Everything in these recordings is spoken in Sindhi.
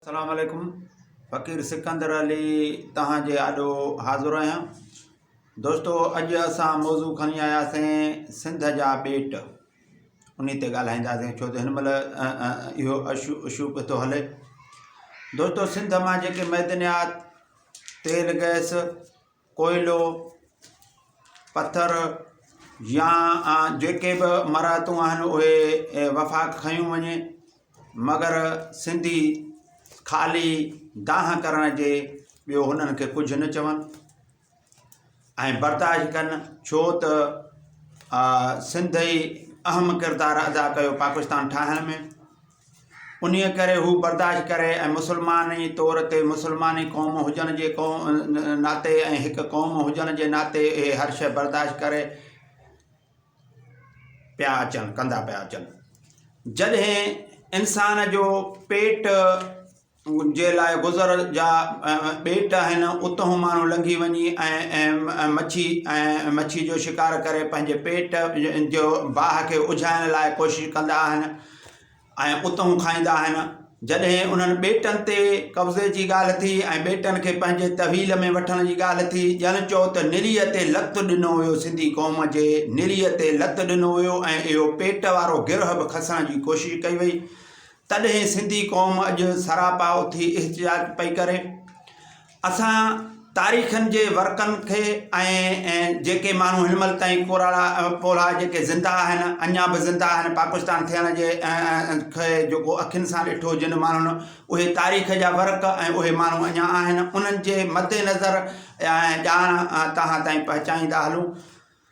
سلام عليڪم فقير سڪندر علي توهان جي آڏو حاضر آهيان دوستو اڄ اسان موضوع کڻي آياسين سنڌ جا ٻيٽ انهي تي ڳالهائينداسين ڇو ته هن مهل اهو اشو اشو پيو ٿو هلي دوستو سنڌ مان جيڪي معدنيات تيل گئس ڪوئلو، پٿر يا جيڪي به مراعتون آهن اهي وفاق کنيون وڃي مگر سنڌي خالي دانهن ڪرڻ جي ٻيو هنن کي ڪجهه نه چون ۽ برداشت ڪن ڇو ته سنڌ ئي اهم ڪردار ادا ڪيو پاڪستان ٺاهڻ ۾ انهيء ڪري هو برداشت ڪري ۽ مسلمان ئي طور تي مسلماني قوم هجڻ جي ناتي ۽ هڪ قوم هجڻ جي ناتي اهي هر شيء برداشت ڪري پيا اچن ڪندا پيا اچن جڏهن انسان جو پيٽ جي لاء گذر جا ٻيٽ آهن اتهون ماڻهو لنگهي وڃي ۽ مڇي ۽ مڇي جو شڪار ڪري پنهنجي پيٽ جو باهه کي اجهائڻ لاء ڪوشش ڪندا آهن ۽ اتهون کائيندا آهن جڏهن انهن ٻيٽن تي قبضي جي ڳالهه ٿي ۽ ٻيٽن کي پنهنجي تحويل ۾ وٺڻ جي ڳالهه ٿي ڄڻ چئو ته نريء تي لت ڏنو ويو سنڌي قوم جي نريء تي لت ڏنو ويو ۽ اهو پيٽ وارو گرهه به کسڻ جي ڪوشش ڪئي وئي تڏهن سنڌي قوم اڄ سراپا اٿي احتجاج پئي ڪري. اسان تاريخن جي ورقن کي ۽ جيڪي ماڻهو هن مهل تائين ڪوراڙا ڪولها جيڪي زنده آهن اڃا به زنده آهن پاڪستان ٿيڻ جي کي جيڪو اکين سان ڏٺو جن ماڻهن اهي تاريخ جا ورق ۽ اهي ماڻهو اڃا آهن انهن جي مدنظر ڄاڻ توهان تائين پهچائيندا هلون.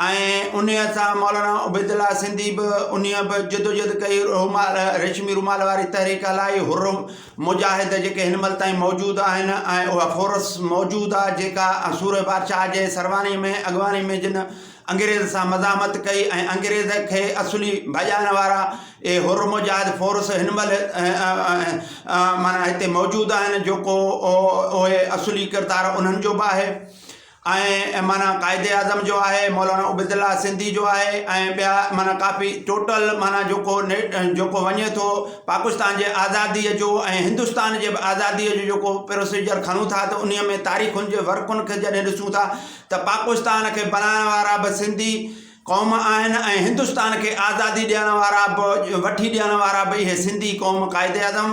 ۽ انهيء سان مولانا عبيدالله سنڌي به انهيء به جدوجهد ڪئي، رومال، ريشمي رومال واري تحريڪ هلائي، حر مجاهد جيڪي هن مهل تائين موجود آهن ۽ اها فورس موجود آ جيڪا سورهيه بادشاهه جي سروانيء ۾ اڳواڻي ۾ جن انگريز سان مزاحمت ڪئي ۽ انگريز کي اصلي ڀڄائڻ وارا اهي حر مجاهد فورس هن مهل معنيٰ هتي موجود آهن جيڪو اهي اصلي ڪردار انهن جو به آهي. ۽ معنيٰ قائد اعظم جو آهي مولانا عبيدالله سنڌي جو آهي ۽ ٻيا معنيٰ ڪافي ٽوٽل معنيٰ جيڪو جيڪو وڃي ٿو پاڪستان جي آزاديء جو ۽ هندستان جي به آزاديء جو جيڪو پروسيجر کڻون ٿا ته انهيء ۾ تاريخن جي ورقن کي جڏهن ڏسون ٿا ته پاڪستان کي بنائڻ وارا به سنڌي قوم آهن ۽ هندستان کي آزادي ڏيڻ وارا به وٺي ڏيڻ وارا به اهي سنڌي قوم قائد اعظم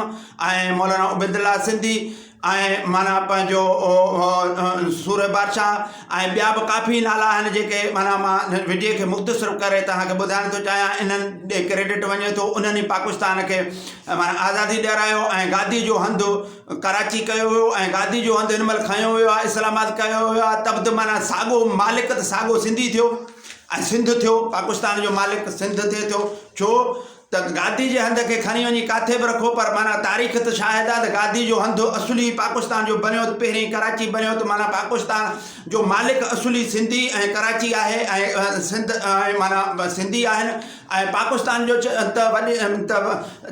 ۽ مولانا عبيد الله سنڌي ۽ معنيٰ پنهنجو سورهيه بادشاهه ۽ ٻيا به ڪافي نالا آهن جيڪي معنيٰ مان هن وڊيو کي مختصر ڪري تهان کي ٻڌائڻ ٿو چاهيان انهن ڏي ڪريڊٽ وڃي ٿو انهن ئي پاڪستان کي معنيٰ آزادي ڏيرايو ۽ گادي جو هنڌ ڪراچي ڪيو ويو آهي ۽ گادي جو هنڌ هن مهل کنيو ويو آهي اسلام آباد ڪيو ويو آهي تبت معنيٰ ساڳو مالڪ ته ساڳو سنڌي ٿيو ۽ سنڌ ٿيو پاڪستان جو مالڪ سنڌ ٿئي ٿو ڇو ته گادي جي هنڌ کي کڻي وڃي ڪاٿي به رکو پر معنيٰ تاريخ ته شاهد آهي ته گادي جو هنڌ اصلي پاڪستان جو بنيو ته پهرين ڪراچي بنيو ته معنيٰ پاڪستان جو مالڪ اصلي سنڌي ۽ ڪراچي آهي ۽ سنڌ ۽ معنيٰ سنڌي آهن ۽ پاڪستان جو چئه ته وڏي ته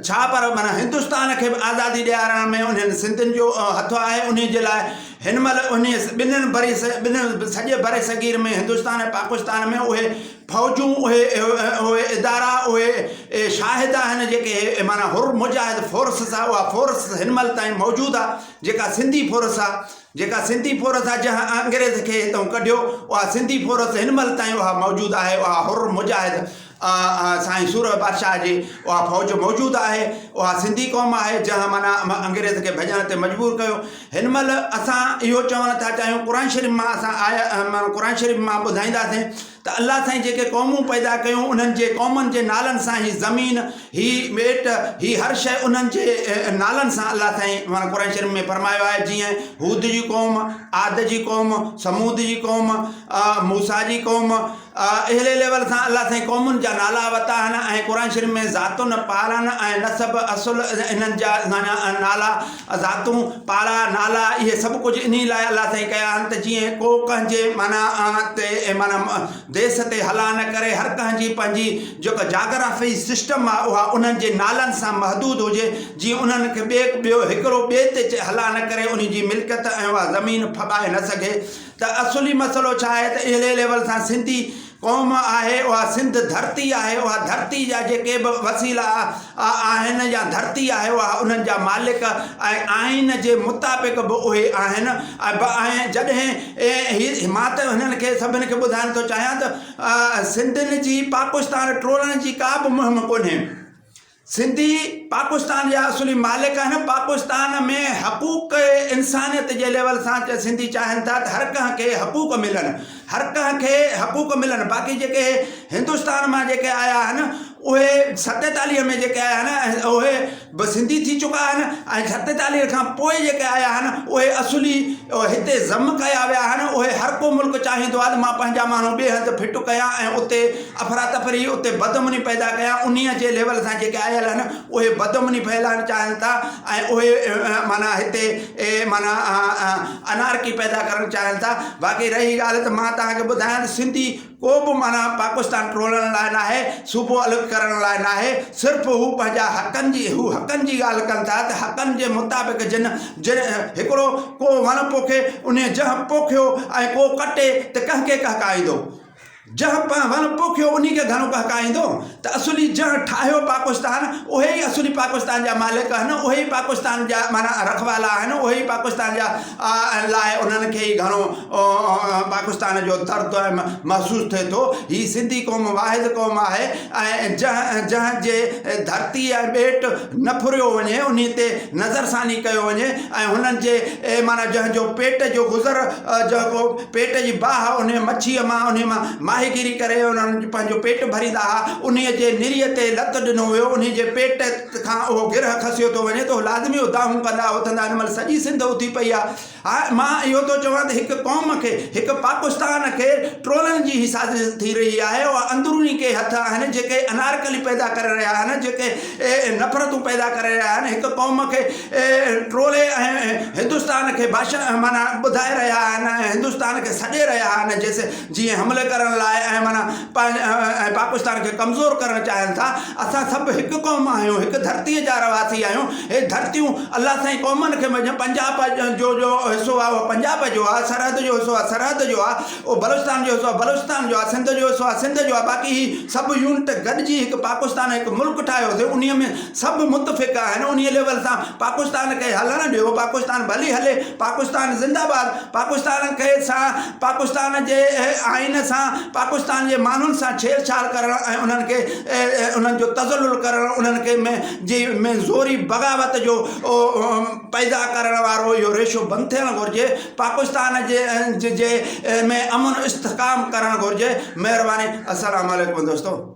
ڇا پر معنيٰ هندستان کي به آزادي ڏيارڻ ۾ انهن سنڌين جو هٿ آهي انهي جي لاء هن مهل انهي ٻنهن بري ٻنهن سڄي بري صغير ۾ هندستان ۽ پاڪستان ۾ اهي فوجون اهي اهي ادارا اهي شاهد آهن جيڪي معنيٰ حر مجاهد فورسز آهي اها فورس هن مهل تائين موجود آهي جيڪا سنڌي فورس آهي جيڪا سنڌي فورس آهي جنهن انگريز کي هتئون ڪڍيو اها سنڌي فورس هن مهل تائين اها موجود آهي اها حر مجاهد سائين سورهه بادشاهه جي اها فوج موجود آهي اها سنڌي قوم آهي جنهن معنيٰ انگريز کي ڀڄڻ تي مجبور ڪيو هن مهل اسان اهو چوڻ ٿا چاهيون قرآن شريف مان اسان آيا قرآن شريف مان ٻڌائينداسين ته الله سائين جيڪي قومون پيدا ڪيون انهن جي قومن جي نالن سان هي زمين هي ٻيٽ هي هر شيء انهن جي نالن سان الله سائين معنيٰ قرآن شريف ۾ فرمايو آهي جيئن هود جي قوم عاد جي قوم ثمود جي قوم موسيٰ جي قوم اهڙي ليول سان الله سائين قومن جا نالا ورتا آهن ۽ قرآن شريف ۾ ذاتن پارن ۽ نسب اصل انهن جا معنيٰ نالا ذاتون، پاڙا، نالا اهي سڀ ڪجهه انهي لاء الله سائين ڪيا آهن ته جيئن ڪو ڪنهن جي معنيٰ تي معنيٰ ديس تي هلا نه ڪري هر ڪنهن جي پنهنجي جيڪا جاگرافي سسٽم آهي اها انهن جي نالن سان محدود هجي جيئن انهن کي ٻي ٻيو هڪڙو ٻئي تي چئي هلا نه ڪري انهي جي ملڪيت ۽ اها زمين ڦٻائي نه سگهي ته اصولي مسئلو ڇا آهي ته اهڙي ليول سان سنڌي قوم آهي اها سنڌ ڌرتي آهي اها ڌرتي جا جيڪي به وسيلا آهن يا ڌرتي آهي اها انهن جا مالڪ ۽ آئين جي مطابق به اهي آهن ۽ به آهن جڏهن هي مان ته هنن کي سڀن کي ٻڌائڻ ٿو چاهيان ته سنڌين جي پاڪستان ٽوڙڻ جي ڪا به مهم ڪونهي سنڌي پاڪستان جا اصولي مالڪ آهن پاڪستان ۾ حقوق انسانيت جي ليول سان چي سنڌي چاهن ٿا ته هر ڪنهن کي حقوق ملن هر ڪنهن کي حقوق ملن باقي جيڪي هندستان مان جيڪي آيا آهن اهي ستيتاليهه ۾ جيڪي آيا آهن اهي به سنڌي ٿي چڪا آهن ۽ ستيتاليهه کان پوء جيڪي آيا آهن اهي اصولي هتي ضم ڪيا ويا آهن اهي هر ڪو ملڪ چاهيندو آهي ته مان پنهنجا ماڻهو ٻئي هنڌ فٽ ڪيان ۽ اتي افراتفري اتي بدامني پيدا ڪيا انهي جي ليول سان جيڪي آيل آهن اهي بدامني ڦهلائڻ چاهين ٿا ۽ اهي معنيٰ هتي معنيٰ انارڪي پيدا ڪرڻ چاهين ٿا باقي رهي ڳالهه ته مان توهان کي ٻڌايان ته سنڌي ڪو به معنيٰ پاڪستان ٽوڙڻ لاء ناهي صوبو الڳ ڪرڻ لاء ناهي صرف هو پنهنجا حقن جي هو حقن جي ڳالهه ڪن ٿا ته حقن جي مطابق جن جن هڪڙو ڪو وڻ پوکي انهي جنهن پوکيو ۽ ڪو ڪٽي ته ڪنهن کي ڪهڪائيندو جنهن پنهن وڻ پوکيو انهي کي گهڻو ٻهڪائيندو ته اصولي جنهن ٺاهيو پاڪستان اهي ئي اصولي پاڪستان جا مالڪ آهن اهي ئي پاڪستان جا معنيٰ رکوالا آهن اهي ئي پاڪستان جا آهن لاء انهن کي ئي گهڻو پاڪستان جو درد محسوس ٿئي ٿو هي سنڌي قوم واحد قوم آهي ۽ جنهن جنهن جي ڌرتي ۽ ٻيٽ نه ڦريو وڃي انهي تي نظرثاني ڪيو وڃي ۽ هنن جي معنيٰ جنهن جو پيٽ جو گذر جهڪو پيٽ جي باهه انهيء مڇيء مان، انهيء مان ماهيگيري ڪري انهن پنهنجو پيٽ ڀريندا ها. انهيء جي نريء تي لت ڏنو ويو، انهيء جي پيٽ کان اهو گرهه کسيو ٿو وڃي ته اهي لازمي اڌاهون ڪندا اٿندا. ان مهل سڄي سنڌ اٿي پئي آهي. ها، مان اهو ٿو چوان ته هڪ قوم کي، هڪ پاڪستان کي ٽولن جي هي سازش ٿي رهي آهي. اها اندروني ڪي هٿ آهن جيڪي انارڪلي پيدا ڪري رهيا آهن، جيڪي نفرتون پيدا ڪري رهيا آهن. هڪ قوم کي ٽولي هندستان کي ڀاشڻ معنيٰ ٻڌائي رهيا آهن ۽ هندستان کي سڏي رهيا آهن جيسين جيئن حملي ڪرڻ لاء ۽ معنيٰ ۽ پاڪستان کي ڪمزور ڪرڻ چاهين ٿا اسان سڀ هڪ قوم آهيون هڪ ڌرتي جا رهواسي آهيون هي ڌرتيون الله سائين قومن کي مڃ پنجاب جو جو حصو آهي اهو پنجاب جو آهي سرحد جو حصو آهي سرحد جو آهي اهو بلوچستان جو حصو آهي، بلوچستان جو آهي، سنڌ جو حصو آهي، سنڌ جو آهي، باقي هي سڀ يونٽ گڏجي هڪ پاڪستان ۽ هڪ ملڪ ٺاهيوسي، انهيء ۾ سڀ متفق آهن، انهيء ليول سان پاڪستان کي هلڻ ڏيو، پاڪستان ڀلي هلي، پاڪستان زنده باد، پاڪستان کي سان پاڪستان جي آئين سان پاڪستان جي ماڻهن سان ڇيڙ ڇاڙ ڪرڻ ۽ انهن کي انهن جو تذلل ڪرڻ انهن کي ۾ جي ۾ زوري بغاوت جو پيدا ڪرڻ وارو اهو ريشو بند ٿيڻ گهرجي، پاڪستان جي ۾ امن استحڪام ڪرڻ گهرجي مهرباني السلام عليڪم دوستو.